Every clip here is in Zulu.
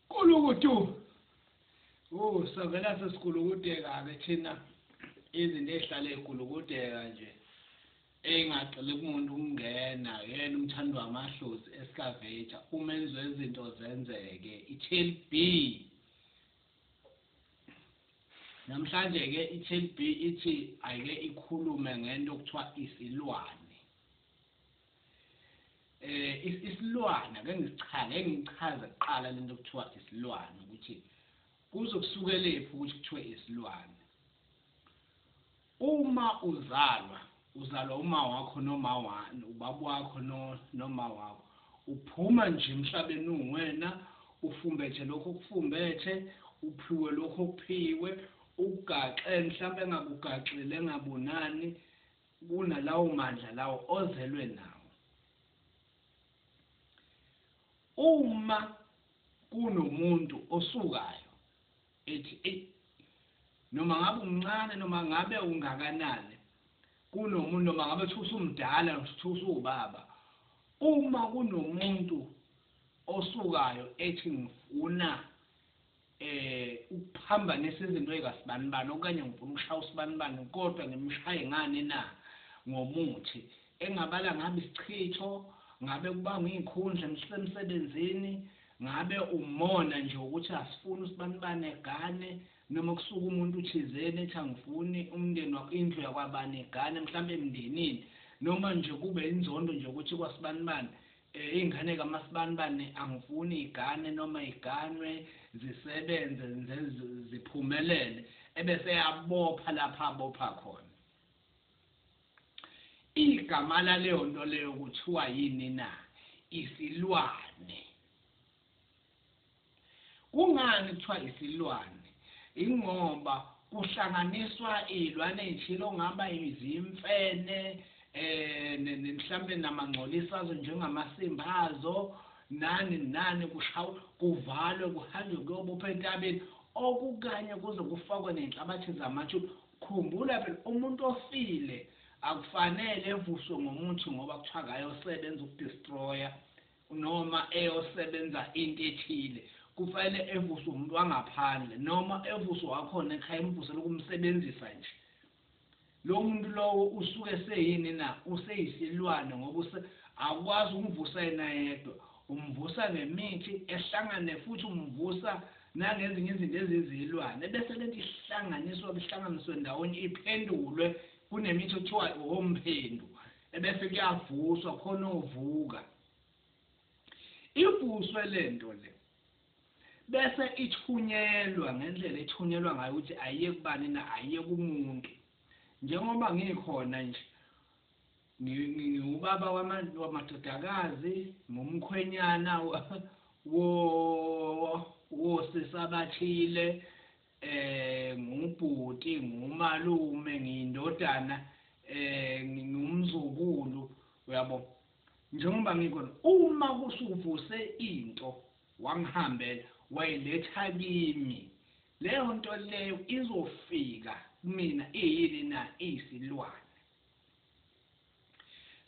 kulukutu oh savela sesikulukuteka ke thina izinto ezihlale ezikulukuteka nje engaceli kumuntu ukungena yena umthandi wamadlozi escavator uma enziwe izinto zenzeke i-tail b namhlanje-ke i-tail b ithi ayike ikhulume ngento okuthiwa isilwane eh isilwana ke ngisichaza engichaza kuqala lento kuthiwa isilwana ukuthi kuzokusukelephi ukuthi kuthiwe isilwana uma uzalwa uzalwa uma wakho noma wani ubaba wakho noma wakho uphuma nje emhlabeni uwena ufumbethe lokho kufumbethe uphiwe lokho kuphiwe ugaxe mhlawumbe engakugaxile engabonani kunalawomandla lawo ozelwe nawo. Uma kunomuntu osukayo ethi eyi noma ngabe umncane noma ngabe ungakanani kunomuntu noma ngabe kuthiwa usumdala kuthiwa usuwubaba uma kunomuntu osukayo ethi ngifuna eh ukuphambanisa izinto ezikasibanibani okanye ngifuna ukushaya usibanibani kodwa ngimshaye ngani na ngomuthi engabala ngabe isichitho ngabe kubanga izikhundla emsebenzini ngabe umona nje ukuthi asifuni usibanibani egane noma kusuka umuntu thizeni ethi angifuni umndeni wakho indlu yakwabani egane mhlawumbe emndenini noma nje kube inzondo nje ukuthi kwasibanibani Ingane kaMasibanibani angifuni igane noma iganwe zisebenze nze ziphumelele ebese eyabopha lapho abopha khona. Igama laleyonto leyo kuthiwa yini na? Isilwane. Kungani kuthiwa isilwane? Ingoba kuhlanganiswa iy'lwane ey'thile okungaba izimfene mhlampe namangcolisi azo njengamasimba azo nani nani kushawa kuvalwe kuhanjwe kuyobopha entabeni okukanye kuze kufakwe ney'nhlabathi zamathuna. Khumbula phela umuntu ofile akufanele evuswe ngomuthi ngoba kuthiwa akayosebenza ukudistroya Noma eyosebenza into ethile, kufanele evuswe umuntu wangaphandle, noma evuswe wakhona ekhaya emvusela ukumsebenzisa nje. Lowo muntu lowo usuke eseyini na? Useyisilwane ngoba use, awukwazi ukumvusa yena yedwa. Umvusa ngemithi, ehlangane futhi umvusa nangezinye izinto ezizilwane, ebese lento ihlanganiswa, ihlanganiswe ndawonye, iphendulwe, kunemithi okuthiwa owomphendu. ebese kuyavuswa khona ovuka ivuswe lento le bese ithunyelwa ngendlela ethunyelwa ngayo ukuthi ayiye kubani na ayiye kumuntu njengoba ngikhona nje ngiwubaba wamadodakazi ngumkhwenyana wo wosisi abathile um ngubhuti, ngumalume, ngiyindodana, um ngumzukulu, uyabo. Njengoba ngikhona, uma kusuvuse into wangihambela, wayiletha kimi, leyo nto leyo izofika kumina iyini na? Iyisilwane.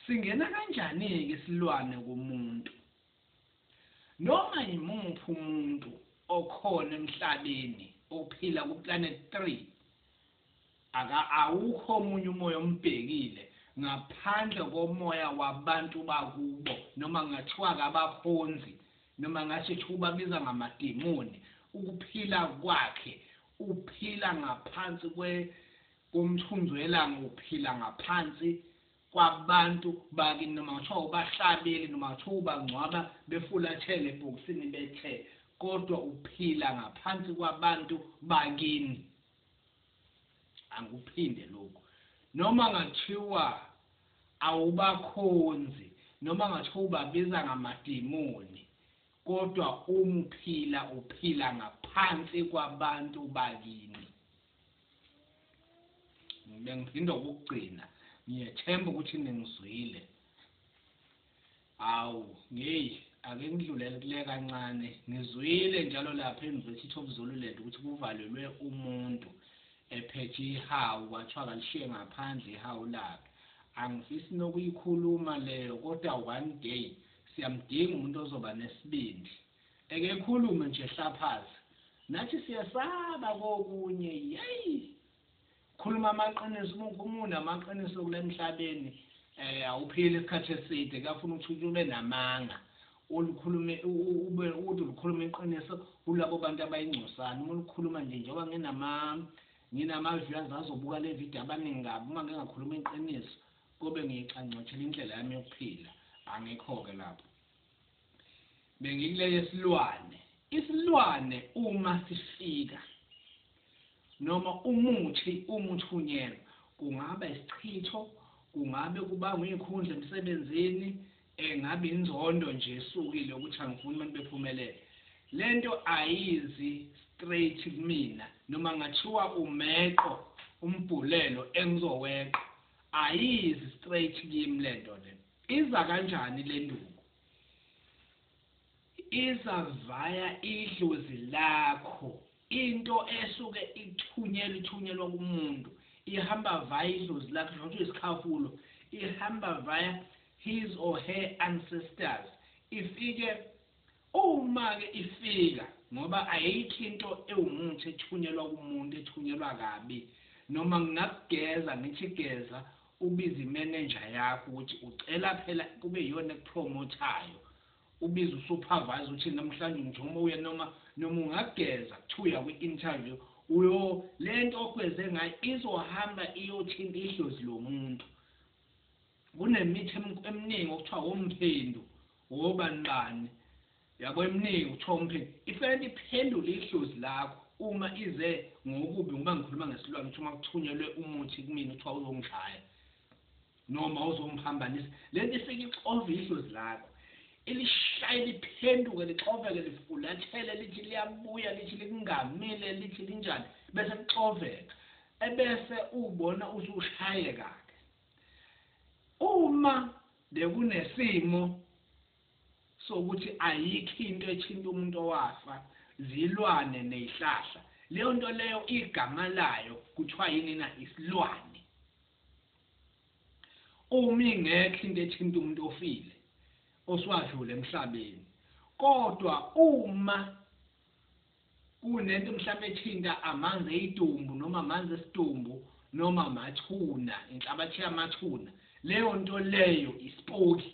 Singena kanjani-ke isilwane kumuntu? Noma yimuphi umuntu okhona emhlabeni ophila kuPlanet Three, aka awukho omunye umoya ombhekile ngaphandle komoya wabantu bakubo noma ngathiwa-ke abakhonzi noma ngathi sho ukubabiza ngamademoni, ukuphila kwakhe uphila ngaphansi kwe komthunzi welanga uphila ngaphansi kwabantu bakini noma ngathiwa ubahlabele noma ngathiwa ubangcwaba befulathele ebhokisini bethe kodwa uphila ngaphansi kwabantu bakini angikuphinde lokhu noma ngathiwa awubakhonzi noma ngathiwa ubabiza ngamademoni kodwa umuphila uphila ngaphansi kwabantu bakini bengizinda ukugcina ngiyethemba ukuthi ningizwile awu ngeyi ake ngidlulele kule kancane ngizwile njalo lapha e-university of zululand ukuthi kuvalelwe umuntu ephethe ihawu kwathiwa kalishiye ngaphandle ihawu lakhe angifisi nokuyikhuluma leyo kodwa one day siyamdinga umuntu ozoba nesibindi Ekekhulume nje Hlaphaz nathi siyesaba kokunye yey khuluma amaqiniso uma ukhumuna amaqiniso kulemhlabeni eh awuphili isikhathi eside kuyafuna ukuthi ube namanga ulikhulume ube uthi ulikhuluma iqiniso kulabo bantu abayingcosana uma ulikhuluma nje njengoba nginama nginama viewers azobuka le video abaningi kabi uma ngingakhuluma iqiniso kobe ngiyixanxethela indlela yami yokuphila angikho ke lapho Bengikule yesilwane. Isilwane uma sifika noma umuthi umuthunyelwa kungaba isichitho kungabe kubangwa izikhundla emsebenzini engabe inzondo nje esukile ukuthi angifuni abantu bephumelele lento ayizi straight kumina noma ngathiwa umeqo umbhulelo engizoweqa ayizi straight kimi lento lento Iza kanjani lenduku? Iza via idlozi lakho. Into esuke ithunyelwa ithunyelwa kumuntu. Ihamba via idlozi lakho noma kuthiwa isikhafulo. Ihamba via his or her ancestors. Ifike Uma-ke ifika, ngoba ayikho into ewumuthi ethunyelwa kumuntu ethunyelwa kabi, noma ngingakugeza ngithi geza ubize imenenja yakho ukuthi ucela phela kube iyona ekupromothayo, ubize usuphavayza uthi namhlanje ungithuma uye noma, noma ungageza kuthiwa uya kwi-interview, uyo, le nto ogeze ngayo izohamba iyothinta idlozi lomuntu. Kunemithi eminingi okuthiwa womphendu, wobani bani. Yabo eminingi okuthiwa womphendu. Ifanele iphendule ihlozi lakho uma ize ngokubi ngoba ngikhuluma ngesilwane ukuthi uma kuthunyelwe umuthi kumina okuthiwa uzongishaya noma uzongiphambanisa. Lento ifike ixove ihlozi lakho. Ilishaye liphenduke lixoveke lifulathele lithi liyabuya lithi likungamile lithi linjani bese kuxoveka. Ebese ubona usushayeka-ke. Uma bekunesimo sokuthi ayikho into ethinta umuntu owafa, zilwane ney'hlahla. Leyo nto leyo igama layo kuthiwa yini na? Isilwane. Uma ingekho into ethinta umuntu ofile oswadlule emhlabeni, kodwa uma Kunento mhlampe ethinta amanzi eyitumbu noma amanzi esitumbu noma amathuna, inhlabathi yamathuna. Leyo nto leyo isipoki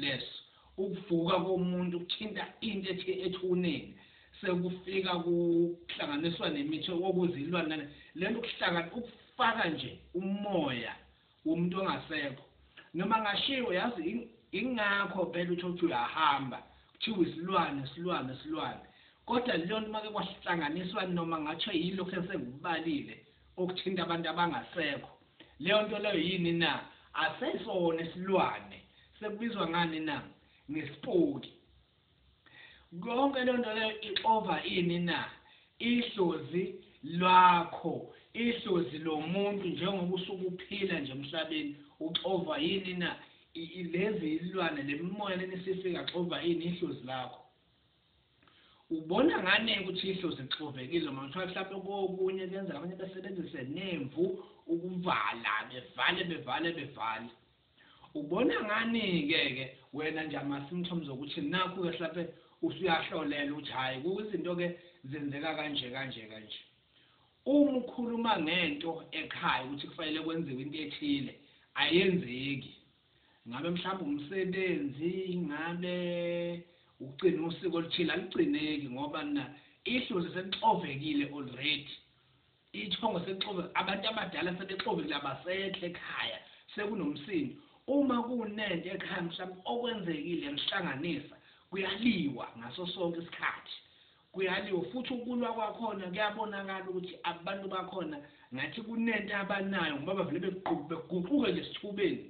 leso. Ukuvuka komuntu kuthinta into ethi ethuneni sekufika kuhlanganiswa nemithi okuzilwane nale. Lento kuhlangana ukufaka nje umoya womuntu ongasekho noma ngashiwo yazi ingakho phela utshotsho uyahamba kuthiwa isilwane isilwane isilwane kodwa leyonto make kwahlanganiswa noma ngatsho yilokhu esengikubalile okuthinta abantu abangasekho leyo nto leyo yini na asesona isilwane sekubizwa ngani na ngesipoki Konke lonto leyo ixova ini na? Ihlozi lwakho, ihlozi lomuntu njengoba usuke uphila nje emhlabeni uxovwa yini na? Lezi ilwane lemimoya lenisifika xova ini ihlozi lakho? Ubona ngani ukuthi ihlozi lixovekile uma kuthiwa mhlawumbe kokunye kuyenzeka abanye besebenzise nemvu ukuvala bevale bevale bevale Ubona ngani ke ke wena nje ama symptoms okuthi nakhu ke hlampe usuyahlolela ukuthi hayi kuzinto ke zenzeka kanje kanje kanje. Uma ukhuluma ngento ekhaya ukuthi kufanele kwenziwe into ethile ayenzeki. Ngabe mhlawumbe umsebenzi ngabe ukugcina usiko oluthile aligcineki ngoba na ihlozi selixovekile already. Isithongo sexove abantu abadala sebexovile abasekho ekhaya sekunomsindo uma kunento ekhaya mhlampe okwenzekile yanihlanganisa kuyaliwa ngasosonke isikhathi kuyaliwa futhi ukulwa kwakhona kuyabonakala ukuthi abantu bakhona ngathi kunento abanayo ngoba bavele beguquke nje esithubeni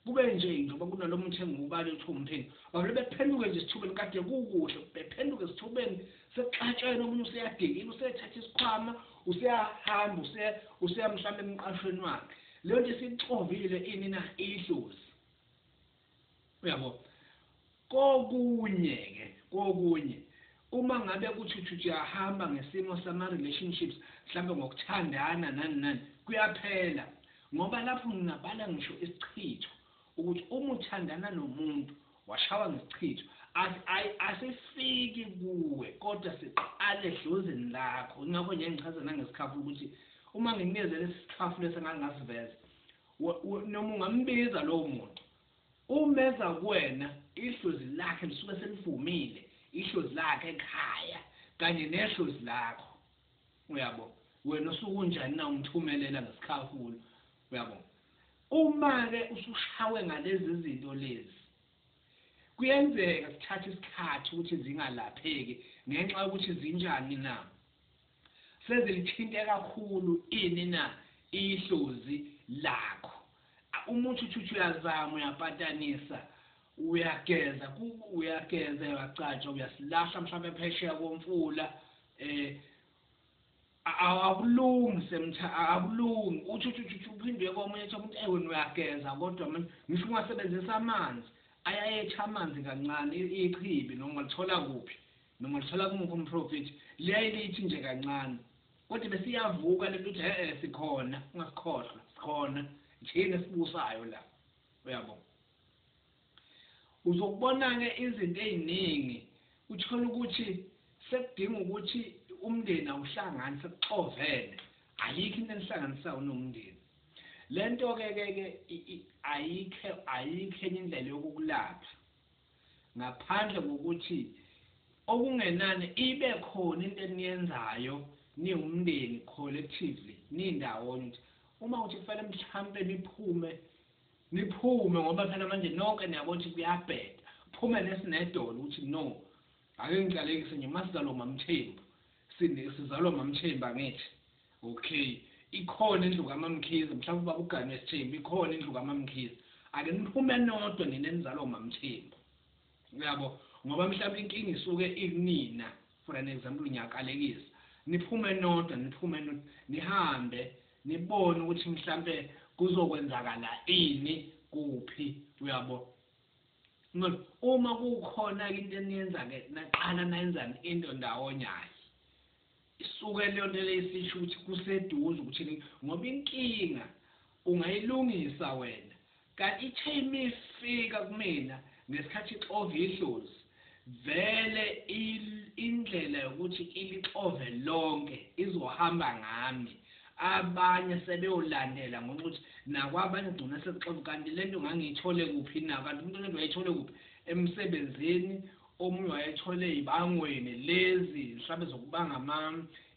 Kube nje njengoba kunalo muthi engiwubale kuthiwa uMpheni, bavele bephenduke nje esithubeni kade kukuhle, bephenduke esithubeni sekuxatshwene omunye useyadikila, usethatha isikhwama, useyahamba, useya useya mhlawumbe emqashweni wakhe. Leyo nto isixovile ini na? Iyidlozi. Uyabo? Kokunye ke kokunye Uma ngabe kuchuchuthi uyahamba ngesimo sama relationships mhlampe ngokuthandana nani nani kuyaphela ngoba lapho ngingabala ngisho isichitho ukuthi Uma uthandana nomuntu washawa ngesichitho asi ai asifiki kuwe kodwa siqala edlozini lakho ingakho nje ngichaza nangesikhafu ukuthi Uma nginikezela isisikhafu lesi engangasiveza noma ungambiza lowo muntu Uma eza kuwena, ihlozi lakhe lisuke selivumile, ihlozi lakhe ekhaya kanye nehlozi lakho. Uyabo? Wena osuke unjani na umthumelela ngesikhafula. Uyabo? Uma-ke usushawe ngalezi zinto lezi, kuyenzeka zithathe isikhathi ukuthi zingalapheki ngenxa yokuthi zinjani na? Sezilithinte kakhulu ini na ihlozi lakho? Umuthi uthi uthi uyazama, uyapatanisa, uyageza, ku, uyageza, uyacatsha, uyasilahla mhlawumbe phesheya komfula, eh, akulungi semtha akulungi uthi uthi uthi uphindwe komunye ethi umuntu ewe uyageza kodwa manje ngisho ungasebenzisa amanzi ayayetha amanzi kancane ichibi noma ulithola kuphi Noma ulithola kumuphi umprofethi, liyaye lithi nje kancane. Kodwa bese iyavuka lento ukuthi he-e sikhona, ungasikhohlwa, sikhona, yithina esibusayo la. Uyabo? Uzokubona-ke izinto eziningi, uthole ukuthi sekudinga ukuthi umndeni awuhlangani, sekuxovene, ayikho into enihlanganisayo unomndeni. Le nto-ke ke ke ayikho ayikho enye indlela yokukulapha. Ngaphandle kokuthi okungenani ibe khona into eniyenzayo niwumndeni collectively nindawonye ukuthi uma kuthi kufanele mhlampe niphume niphume ngoba phela manje nonke niyabo ukuthi kuyabheda phume nesinedolo ukuthi no ake ngiqalekise nje masizalwa uMamthembu sizalwa uMamthembu angithi Okay. Ikhona indlu kaMamkhize, mhlawumbe ubaba uganwe sithembu, ikhona indlu kaMamkhize. Ake niphume nodwa nina enizalwa uMamthembu. Uyabo? Ngoba mhlawumbe inkinga isuke ikunina. For an example ngiyakalekisa. Niphume nodwa, niphume nodwa, nihambe nibone ukuthi mhlawumbe kuzokwenzakala ini kuphi. Uyabo? Ngoba uma kukhona into eniyenza ke naqala nayenzani into ndawonye hayi. Isuke leyonto leyo isisho ukuthi kuseduze ukuthini ngoba inkinga ungayilungisa wena kanti ithe imifika kumina ngesikhathi ixova idlozi vele indlela yokuthi ilixove lonke izohamba ngami abanye sebeyolandela ngenxa ukuthi nakwabanye kugcina sekuxova kanti lento ngangiyithole kuphi na kanti umuntu lento wayithole kuphi emsebenzini Omunye wayethole ibangweni lezi mhlawumbe zokubanga ama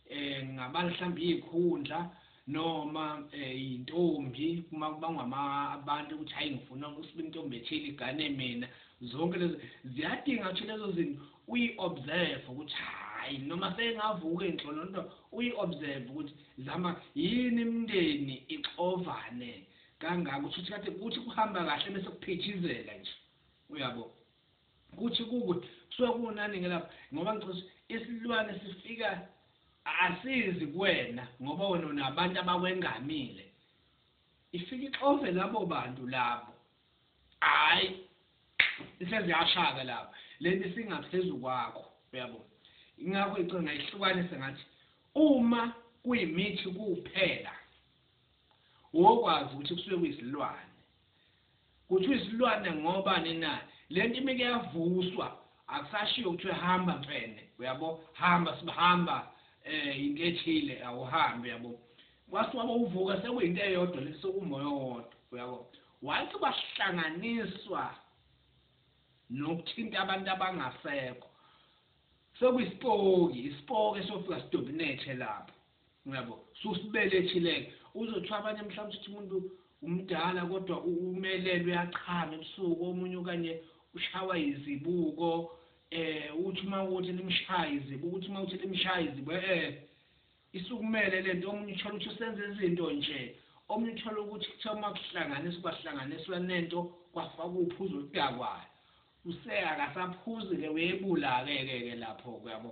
eh ngabala mhlawumbe izikhundla noma eh intombi uma kubangwa ama abantu ukuthi hayi ngifuna ukusiba intombi ethile igane mina zonke lezo ziyadinga ukuthi lezo zinto uyi observe ukuthi hayi noma sengavuka enhlolo nto uyi observe ukuthi zama yini imndeni ixovane kangaka ukuthi kade kuthi kuhamba kahle bese kuphithizela nje uyabo kuthi kukuth kusuke kunani ke lapho ngoba ngicela ukuthi isilwane sifika asizi kuwena ngoba wena unabantu abakwengamile ifika ixove labo bantu labo hayi iseziyashaka lapho lento isingaphezulu kwakho uyabo ingakho icinga ihlukanise ngathi uma kuyimithi kuphela Wokwazi ukuthi kusuke kuyizilwane. Kuthiwa isilwane ngoba nina lento imike yavuswa akusashiyo kuthiwe hamba mfene uyabo hamba sibahamba eh into ethile awuhambe yabo kwasiwa bowuvuka sekuyinto eyodwa lesi sokumoya owodwa uyabo wathi kwahlanganiswa nokuthinta abantu abangasekho sekuyispooki ispoke sofika sidominate lapho Uyabo? Susibele chileka. Uzothiwa abanye mhlawumbe uthi umuntu umdala kodwa umelelwe uyachama ebusuku omunye okanye ushawa izibuko eh uthi uma ukuthi limshaya izibuko ukuthi uma uthi limshaya izibuko eh isukumele lento omunye uthola ukuthi usenza izinto nje omunye uthola ukuthi kuthiwa uma kuhlanganiswa kwahlanganiswa nento kwafaka uphuzo oludakwayo use akasaphuzi-ke uyebula-ke ke ke lapho kuyabo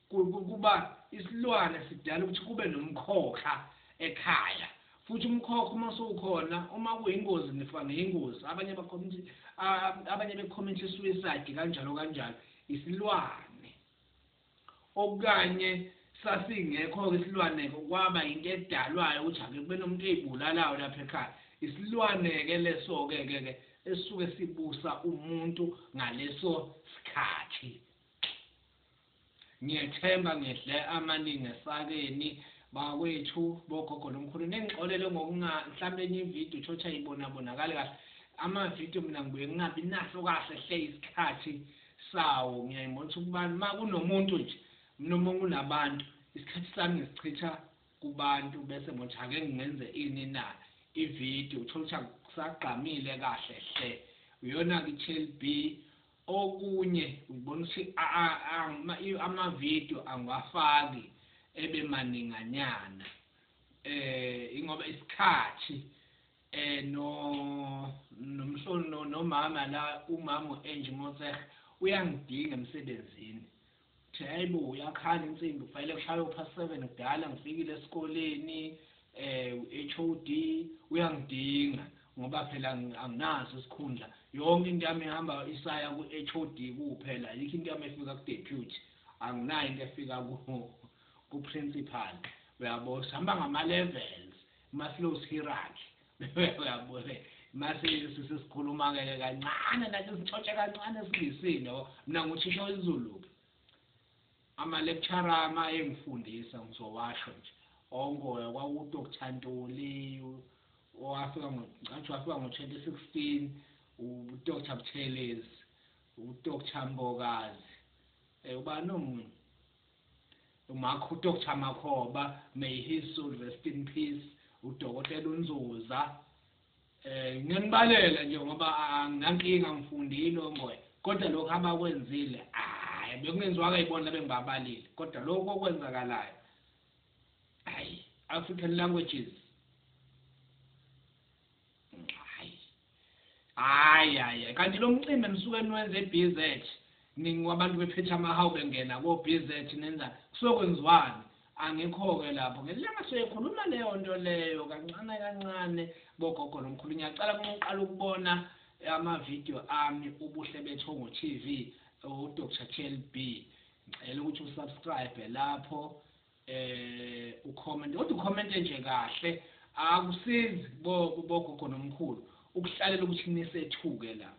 Kuba isilwane sidala ukuthi kube nomkhokha ekhaya futhi umkhokha uma sowukhona uma kuyingozi nifa ngeyingozi abanye bakhomithi abanye bekhomithi suicide kanjalo kanjalo isilwane okanye sasingekho ke isilwane kwaba into edalwayo ukuthi ake kube nomuntu eyibulalayo lapha ekhaya isilwane ke leso ke ke ke esuke sibusa umuntu ngaleso sikhathi Ngiyethemba ngidle amaningi esakeni bakwethu bogogo nomkhulu ningixolele ngokunga mhlambe enye ivideo uthotha yibona bonakali kahle ama video mina ngibuye ngingabi naso kahle hle isikhathi sawo ngiyayibona ukuthi kubani ma kunomuntu nje noma kunabantu isikhathi sami ngisichitha kubantu bese ngothi ake ngingenze ini na ivideo uthotha kusagqamile kahle hle uyona ki-chelb Okunye ngibona ukuthi ama video angiwafaki ebe maninganyana ingoba isikhathi no nomhlolo nomama la umama u Angie Motshekga uyangidinga emsebenzini. Ngithe aybo uyakhala insimbi kufanele kushaywe past seven kudala ngifikile esikoleni eh uHOD uyangidinga ngoba phela anginaso isikhundla yonke into yami ihamba isaya kuHOD kuphela ayikho into yami efika kuDeputy anginayo into efika kuPrincipal uyabo sihamba ngama levels maslows hierarchy uyabona mase sisikhuluma ke kancane nathi sixoxe kancane singisini yabo mina nguthisha wezulu ama lecturer ama engifundisa ngizowasho nje ongoya kwaku Dr Ntuli owafika ngo ngathi wafika ngo 2016 u Dr Buthelezi u Dr Mbokazi eh ubani omunye Umakho u Doctor Makhoba may his soul rest in peace udokotela uNzuza eh ngiyanibalela nje ngoba anginankinga ngifundile ongoye kodwa lokho abakwenzile hayi bekungenziwanga yibona bengibabalile kodwa lokho okwenzakalayo hayi African languages Hayi hayi kanti lo mcimbi enisuke niwenze eBZ ningi wabantu bephetha amahawu bengena ko BZ nenza kusuke kwenziwani angikho-ke lapho ngelanga soyekhuluma leyo nto leyo kancane kancane bogogo nomkhulu ngiyacala kunqoqala ukubona amavidiyo ami ubuhle bethongo TV uDr Chelby ngicela ukuthi usubscribe lapho eh ucomment kodwa ucommente nje kahle akusizi bo bogogo nomkhulu ukuhlalela ukuthi nisethuke la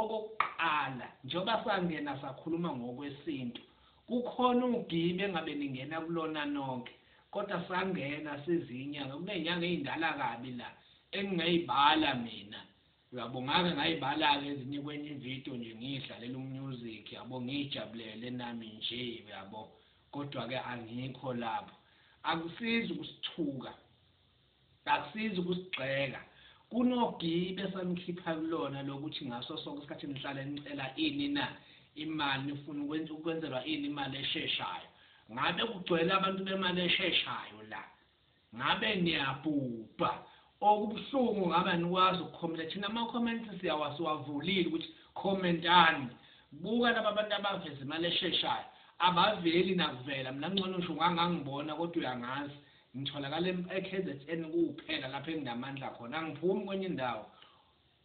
okokuqala njengoba sangena sakhuluma ngokwesintu kukhona ugibe ngabe ningena kulona nonke kodwa sangena sizinyanga kunenyanga ezindala kabi la engingayibala mina Uyabongake ngayibalake ezinye kwenye ivideo nje ngiyidlalela umusic yabo ngiyijabulele nami nje uyabo kodwa ke angikho lapho akusizi ukusithuka akusizi ukusigxeka kunogibe samkhipha kulona lokuthi ngaso sonke isikhathi nihlale nicela ini na imali nifuna ukwenza ukwenzelwa ini imali esheshayo ngabe kugcwele abantu bemali esheshayo la Ngabe niyabhubha. Okubuhlungu ngaba nikwazi ukukhomenta thina ama comments siyawa siwavulile ukuthi khomentani. Buka laba bantu abaveza imali esheshayo. Abaveli nakuvela mina ncono ngisho ungangangibona kodwa uyangazi. Ngitholakala eKZN kuphela lapho enginamandla khona angiphumi kwenye indawo.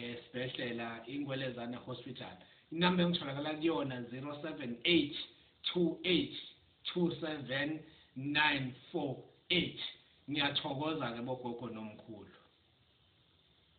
esibhedlela ingwelezane hospital inamba engitholakala kuyona 0782827948 ngiyathokoza ke bogogo nomkhulu